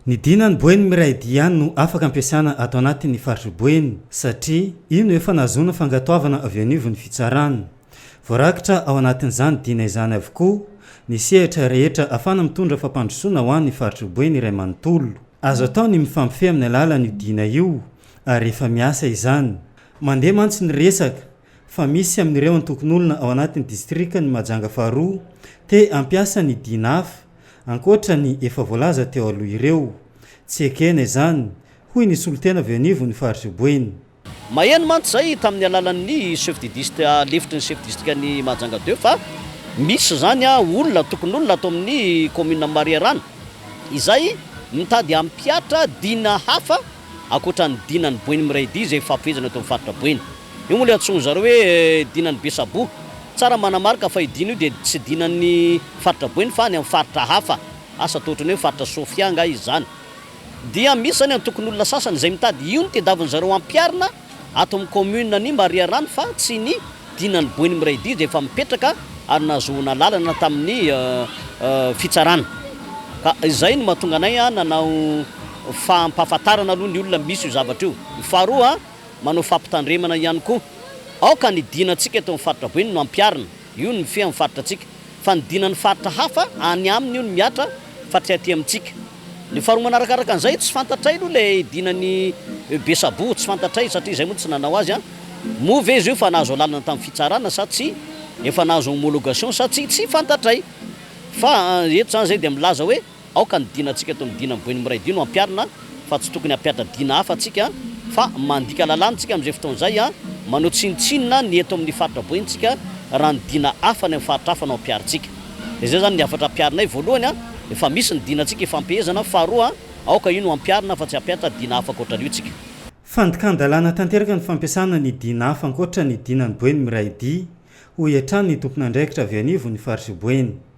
Ny Dina any Boeny miray dia ihany no afaka ampiasana ato anatin' ny faritr'i Boeny satria io no efa nahazoana fangatoavana avy anivon'ny fitsarana. Voarakitra ao anatin'izany Dina izany avokoa ny sehatra rehetra ahafahana mitondra fampandrosoana ho an' ny faritr'i Boeny iray manontolo. Azo atao ny mifampifehy amin'ny alalan'io Dina io ary efa miasa izany. Mandeha mantsy ny resaka. fa misy amin'ireo antokon'olona ao anatin'ny distrikan'i Mahajanga faharoa te hampiasa ny DINAF, ankoatra ny efa voalaza teo aloha ireo. Tsy ekena izany, hoy ny solontena avy eo anivon'ny faritra Boeny. Maheno mantsy izay tamin'ny alalan'ny chef de dist, lefitry ny chef distrikan'i Mahajanga deux fa misy izany olona, antokon'olona ato amin'ny kaominin'i Mariharana izay mitady hampihatra dina hafa ankoatra ny dinan'ny Boeny Miray Dihy izay ifampifehezana eto amin'ny faritra Boeny. Io moa ilay antsoin'ny zareo hoe dinan'ny Besaboa. Tsara ny manamarika fa io dina io dia tsy dinan'ny faritra Boeny fa any amin'ny faritra hafa. Asa toa ohatran'ny hoe faritra Sofia angaha izy izany. Dia misy izany antokon'olona sasany izay mitady io no tedavin-dry zareo hampiharina. Ato amin'ny kaominina ny Mariarano fa tsy ny dinan'ny Boeny miray dia izay efa mipetraka ary nahazoana alalana tamin'ny fitsarana. Ka izay no mahatonga anay nanao fampahafantarana aloha ny olona misy io zavatra io. Ny faharoa, manao fampitandremana ihany koa. Aoka ny dinantsika eto amin'ny faritra Boeny no ampiharina. Io ny mifehy amin'ny faritra antsika. Fanidina ny faritra hafa any aminy io ny mihatra fa tsy aty amintsika. Ny faharoa manarakaraka an'izay tsy fantatray aloha ilay dina ny be saboho tsy fantatray satria izay moa tsy nanao azy an! Moa ve izy io efa nahazo alalana tamin'ny fitsarana sa tsy? Efa nahazo homologation sa tsy? Tsy fantatray! Fa eto izany izay dia milaza hoe. Aoka ny dinantsika toy ny dinan'ny boin'ny miray dino ampiharina fa tsy tokony hampihatra dina hafa tsika fa mandika lalàna tsika amin'izay fotoana izay, manao tsinontsinona ny eto amin'ny faritra bointsika raha ny dina hafa any amin'ny faritra hafa no ampiharintsika. Dia izay izany ny hafatra ampiharinay, voalohany, efa misy ny dinantsika ifampehezana, faharoa, aoka io no ampiharina fa tsy hampihatra dina hafa ankoatran'io tsika. Fandikan-dalàna tanteraka ny fampiasana ny dina hafa ankoatra ny dinan'ny boin'ny miray dia, hoy hatrany ny tompon'andraikitra avy anivon'ny faritra boeny.